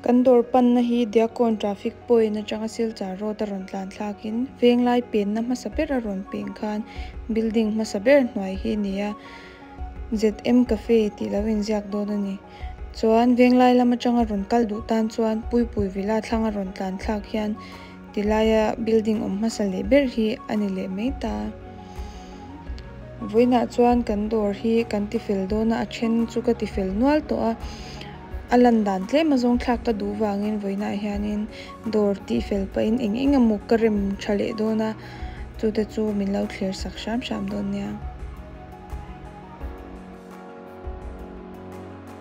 Kan dawr panna hi Diakawn Traffic Point atanga Silchar Road a rawn tlan thlakin Venglai penna hmasa ber a rawn peng khan building hmasa ber hnuai hi a ni a, ZM Cafe tih lo inziak dawn a ni. Chuan Venglai lam atanga rawn kal duh tan chuan Puipui Villa thlang a rawn tlan thlak hian. Ti laia building awm hmasa leh ber hi a ni leh mai ta. Vawiinah chuan kan dawr hi kan ti fel dawn a, a then chu ka ti fel nual tawh a. A lan dan tlem a zawngthlak ka duh vangin vawiinah hianin dawr tih fel pahin eng eng emawk ka rem tha leh dawn a, chute chu min lo thler sak hram hram dawn nia.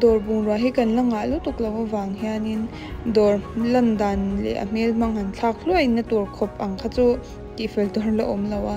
Dawr bungrua hi kan la ngah lutuk lo avang hianin dawr lan dan leh a hmel hmang han thlak hluaina tur khawp ang kha chu tihfel tawh la awm lo a.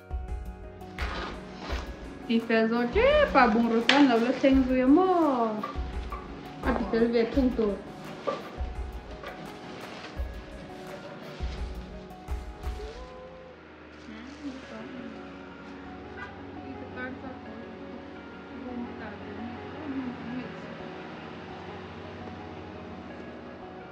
Ti fel zawh tep a, bungraw chuan lo la thleng zui a maw? A ti fel ve thung tur.